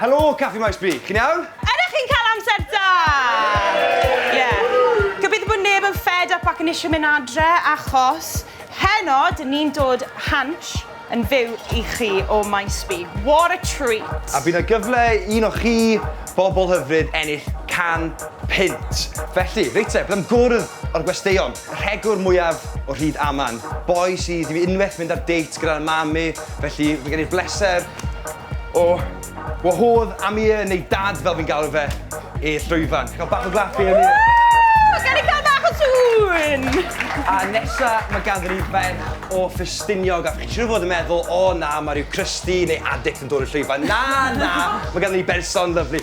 Helo, Caffi Maes B, chi'n iawn? Ydych chi'n cael amser da? Ie. Gobeithio bod neb yn fed up ac yn eisiau mynd adre, achos heno, dyn ni'n dod Hansh yn fyw i chi o Maes B. What a treat! A bydd yna gyfle i un o chi, bobl hyfryd, ennill can punt. Felly, reit te, bydd am gwrdd o'r gwesteion. Rhegwr mwyaf o Rhyd Aman. Boi sydd i fi unwaith mynd ar date gyda'r mam i, felly mae gen i'r bleser o wahodd Amir, neu Dad fel fi'n galw fe, i'r llwyfan. Cael bach o glap i Amir. Gawn ni cael bach o sŵn! A nesa mae ganddo ni ferch o Ffestiniog a chi'n siŵr o fod yn meddwl, 'O na, mae rhyw crusty neu addict yn dod i'r llwyfan'. Na, na, mae ganddo ni berson lyfli.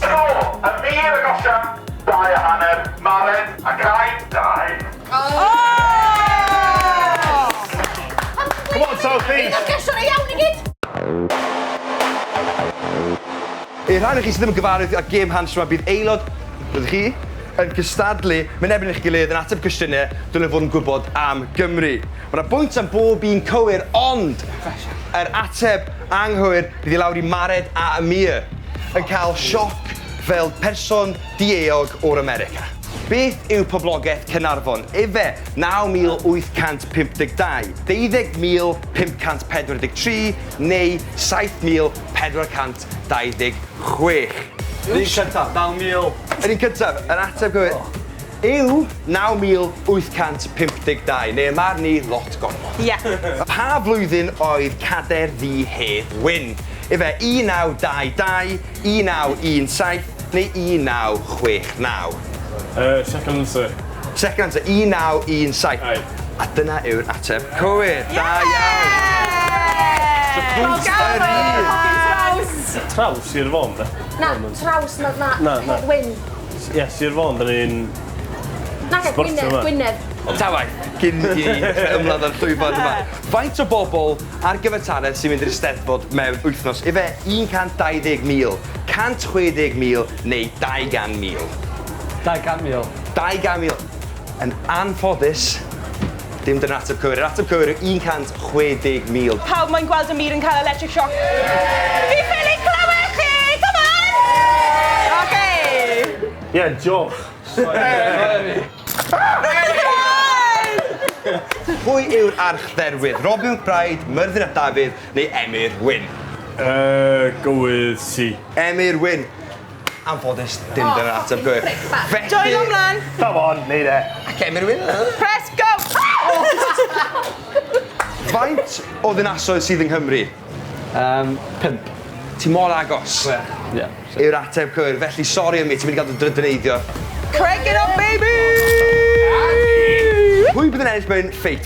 Tro yn wir yn osian dau a hanner, Maren a Cai, dau. Come on South East! Yna gesture go iawn i gyd! I'r rhai ohonoch chi sydd ddim yn gyfarwydd â gêm Hansh 'ma, bydd aelod, rydych chi, yn cystadlu, mynebyn eich gilydd, yn ateb cwestiynau, dylwn fod yn gwybod am Gymru. Mae 'na bwynt am bob un cywir ond yr ateb anghywir bydd i lawr i Mared a Amir yn cael sioc fel person di-eog o'r America. Beth yw poblogaeth Caernarfon? Efe, 9852, 20543 neu 7426? Yr un cyntaf, 9000. Yr un cyntaf, yr ateb gywir. yw 9852, neu ym marn i, lot gormod. Ie. Pa flwyddyn oedd cadair ddu Hedd Wyn? Efe 1922, 1917 neu 1969? Yy, second answer. Second answer, 1917. Aye. A dyna yw'r ateb cywir. Da iawn! Traws yr un! Traws i'r fon de? Na, traws, na, na, Hedd Wyn. Ie, Sir Fôn, da ni'n... Nac e, Gwynedd, Gwynedd. Ta waeth, cyn i ni ymladd â'r llwyfan yma. Faint o bobl ar gyfartaledd sy'n mynd i'r Eisteddfod mewn wythnos? Ife 120,000, 160,000 neu 200,000? 200,000. 200,000. Yn anffodus, dim dyna'r ateb cywir. Yr ateb cywir yw 160,000. Pawb moyn gweld y mur yn cael electric shock. Fi ffili clywed chi! Come on! Oce! Ie, diolch. Pwy yw'r archdderwydd? Robin McBride, Myrddin ap Dafydd neu Emyr Wyn? Yy, go with C. Emyr Wyn. anffodus dim dyna'r ateb cywir. Felly... Joio mlan! Come on, neud e. Ac Emyr Wyn. Press go! Faint o ddinasoedd sydd yng Nghymru? Um, pimp. Ti mor agos. Ie. Yeah, sure. Yw'r ateb cywir. Felly, sori ymwneud, ti'n mynd i gael dy drydyneiddio. Craig it up, baby! Pwy bydd yn ennill mewn ffeit?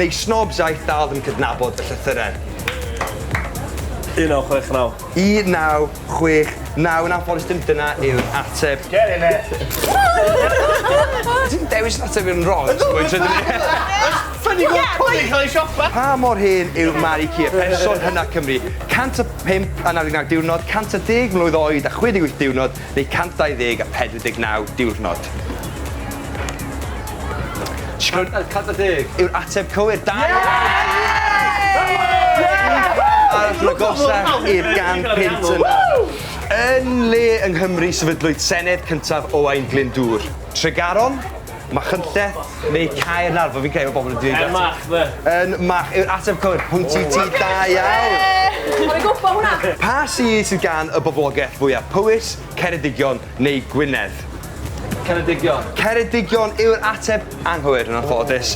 Neu snobs aeth dal ddim cydnabod fy llythyren. 1969. 1969 yn anffodus dim dyna yw'r ateb. Get in there! Ti'n dewis yn ateb yn wrong? Ydw! Mae'n trydyn ni. Ffynnu gwrdd cwni cael ei siopa! Pa mor hen yw Mari Cia, person hynna Cymru? 105 anafu 9 diwrnod, 110 mlwydd oed a 68 diwrnod, neu 124 diwrnod? Cant a cant a deg! Yw'r ateb cywir. Da iawn Yn le yng Nghymru sefydlwyd Senedd cyntaf Owain Glyndŵr? Tregaron? Machynlleth neu Caernarfon? Fi'n credu bod pobl yn dweud... Yn Mach, de. Yn Mach yw'r ateb cywir. Pwynt i ti, da iawn! Ie! O'n i'n gwbo hwnna! Pa sir sydd gan y boblogaeth fwyaf, Powys, Ceredigion neu Gwynedd? Ceredigion. Ceredigion yw'r ateb anghywir, yn anffodus.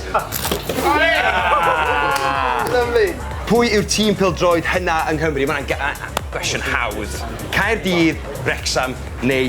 Lyfli! Pwy yw'r tîm pêl-droed hynaf yng Nghymru? Mae hwnna'n gwestiwn hawdd. Caerdydd, Wrecsam neu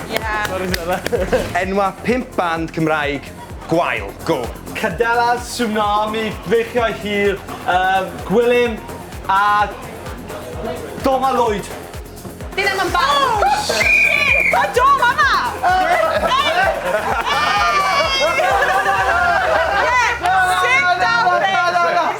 Ie! Enwa' pump band Cymraeg gwael. Go! Cadela, Tsunami, Beichiau Hir, yym, Gwilym a Doma Lloyd. Dyn nhw'm yn band. O! Shit! Ma' Dom yma! Ie! Ie! Sit down mate!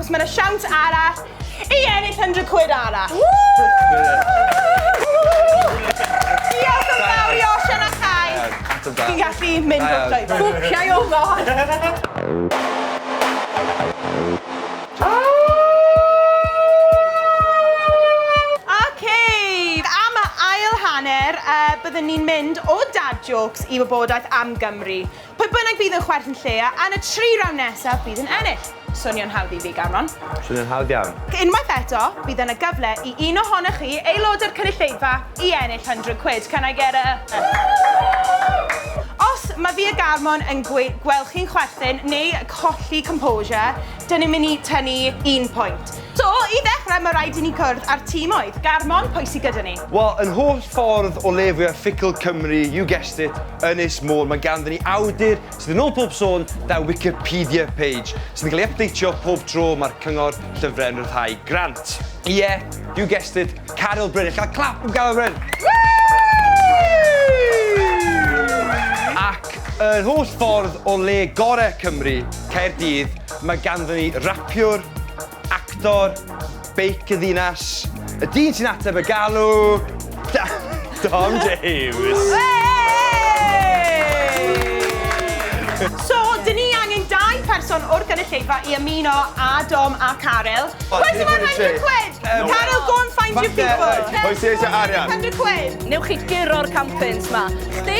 Os mae yna siawns arall i ennill 100 quid arall. Diolch yn fawr i Osian a Chai. Fi'n gallu mynd o'r llwyfan. Bwciau o fod! Ok, am y ail hanner, yy, byddwn ni'n mynd o dad jokes i wybodaeth am Gymru. Pwy bynnag fydd yn chwerthin lleia yn y tri rawnd nesaf bydd yn ennill. Swnio'n hawdd i fi, Gamron? Swnio'n hawdd iawn. Unwaith eto, bydd yna gyfle i un ohonoch chi, aelodau'r cynulleidfa, i ennill hundred quid, can I get a? Os mae fi a Garmon yn gwe- gweld chi'n chwerthin neu colli composure, dyn ni'n mynd i tynnu un pwynt. So, i ddechrau, mae rhaid i ni cwrdd â'r tîmoedd, garmon, pwy sy gyda ni? Wel, yn holl ffordd o le fwya ffugl Cymru, you guessed it, Ynys Môn, mae ganddyn ni awdur sydd yn ôl pob sôn 'da Wikipedia page, sydd yn cael ei ypdeitio pob tro mae'r Cyngor Llyfrau yn rhyddhau grant. Ie, you guessed it, Caryl Bryn. Allai gael clap am Garyl Bryn? Ac yn holl ffordd o le gorau Cymru, Caerdydd, Mae ganddyn ni rapiwr, actor, beic y ddinas, y dyn sy'n ateb y galw, Dom James! So, dyn ni angen dau pherson o'r gynulleidfa i ymuno â Dom a Caryl. Pwy sy'n moyn 100 quid? Caryl, go and find your people! Pwy sy'n eisiau arian? Newch chi guro'r campins 'ma. Chdi?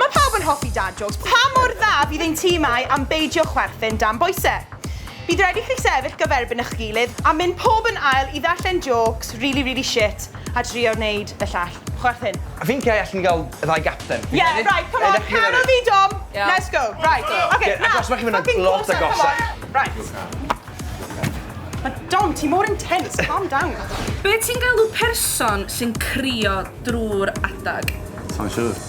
Mae pawb yn hoffi dad jôcs, pa mor dda fydd ein timau am beidio chwerthin dan boise? Bydd raid i chi sefyll gyferbyn ych gilydd a mynd pob yn ail i ddarllen jôcs rili rili shit a drio wneud y llall chwerthin. Fi'n credu allen ni gael y ddau gapten. Ie, right, come on, Carol fi Dom, let's go, right, ok, nawr, achos mae chi'n mynd yn lot agosach. Right. Mae Dom, ti mor intense, calm down. Be ti'n galw person sy'n crio drwy'r adeg? Sai'n siŵr.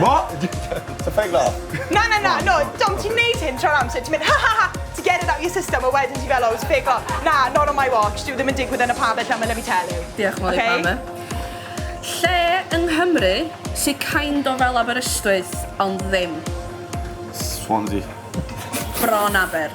What? Ti'n ffeig dda? Na, na, na, no, Dom, ti'n neud hyn tro'r amser, ti'n mynd ha ha ha, to get it out your system, a wedyn ti'n fel, oh, it's a fake laugh. Na, not on my watch, dyw e ddim yn digwydd yn y pabell yma, let me tell you. Diolch yn fawr i Pam e. Lle yng Nghymru sydd kind o fel Aberystwyth, ond ddim? Swansea. Bron aber.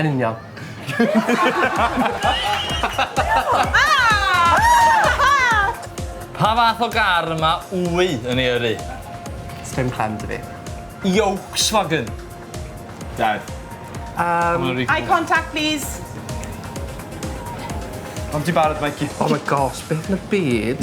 Yn union. Pa fath o gar y mae Wy yn ei yrru? Sdim clem da fi. Yolkswagen. Dad. Yym. Eye contact plîs. Pam ti'n barod Mikey? Oh my gosh, beth yn y byd?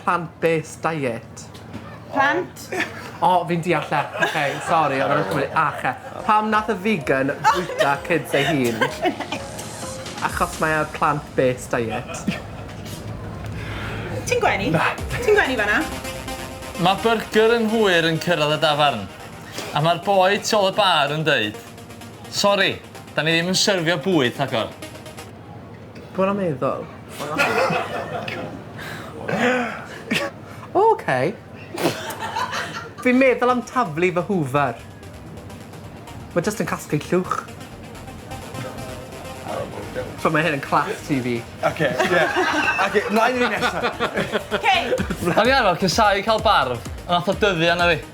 Plant-based diet. Plant? O, fi'n deall e. Oce, sori, o'n i'n cymryd ache. Pam nath y vegan bwyta kids ei hun? Achos mae ar plant-based diet. Ti'n gwenu? Ti'n gwenu fanna? Mae byrgyr yn hwyr yn cyrraedd y dafarn, a mae'r boi tu ôl y bar yn dweud, Sori, da ni ddim yn syrfio bwyd, rhagor. Dwi'n yn meddwl. Ok. Fi'n meddwl am taflu fy hoover. Mae jyst yn casglu llwch. So mae hyn yn class ti fi. Ok, ie. Ok, mlaen i nesaf. Ok. O'n i arfar casau cael barf, ond nath o dyddio arna fi.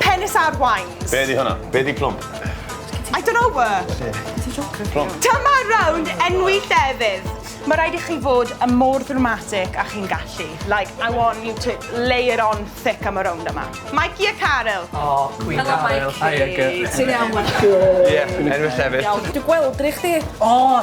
Penis ar wines. Be di hwnna? Be di plwm? I don't know word. Plwm. Dyma rownd enwi llefydd. Mae rhaid i chi fod yn mor ddramatic a chi'n gallu. Like, I want you to lay it on thick am y rownd yma. Mikey a Caryl. Oh, Cwyn Caryl. Helo, Mikey. Ti'n iawn, Mikey? Ie, enwi llefydd. Dwi gweld rhi chdi. O!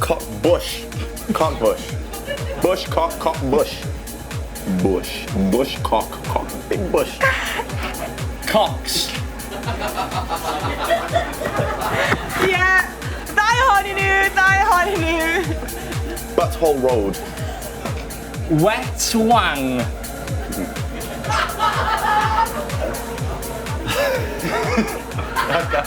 Co bush. Cock bush. Bush cock cock bush. Bush. Bush cock cock. Big bush. Cocks. Ie! Ddau ohonyn nhw! Ddau ohonyn nhw! Butthole road. Wet wang. Ragor.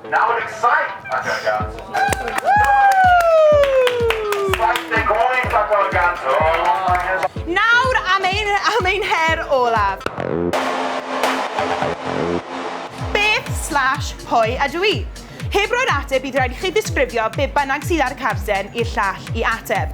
Nawr yn saith ac ar gant. Saith deg wyth ac ar gant. Nawr am ein, am ein her olaf. Beth slash pwy ydw i? Heb roi'r ateb bydd rhaid i chi ddisgrifio be bynnag sydd ar y carden i'r llall i ateb.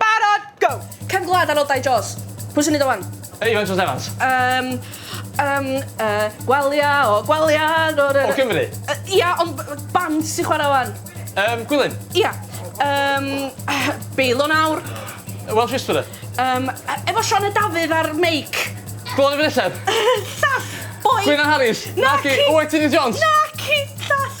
Barod, go! Cefn gwlad ar ôl dau Jaws. Pwy sy'n neud o wan? Iwan Jones Evans. Um, um, uh, gwalia o gwalia... O Cymru? Uh, ia, ond band sy'n chwarae wan. Um, Gwilym? Ia. Um, Beilo nawr. Welsh Whisperer? Um, efo Sean y Dafydd a'r meic. Gwlad y Fynelleb? Llall, boi. Gwyn Harris? Naci. Oetini Jones? Naci, llall.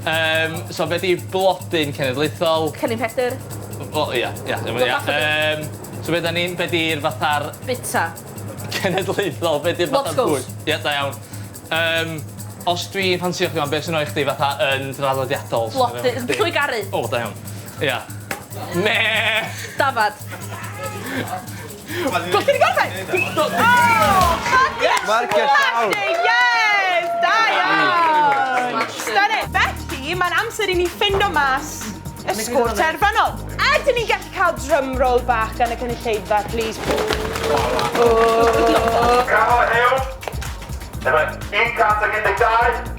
Yym, so be' 'di blodyn cenedlaethol? Cennin Pedr. O ia, ia. Yym, so be' 'dan ni'n, be' 'di'r fatha'r... Bita. ...cenedlaethol, be' 'di'r fatha'r fwyd? Moscow's. Ia, da iawn. Yym, os dwi'n ffansïo chdi 'wan be' sy'n rhoi chdi fatha yn draddodiadol? Blodyn, llwy garu. O, da iawn. Ia. Meh! Dafad. Gosod i gorffen! Gosod i gorffen! Marcio'r llawr! Yes! Da iawn! Stunning! Felly, mae'n amser i ni ffindo mas y sgôr terfynol. Ydyn ni'n gallu cael drum roll bach gan y cynulleidfa, please? Gafael Huws, efo'r 112.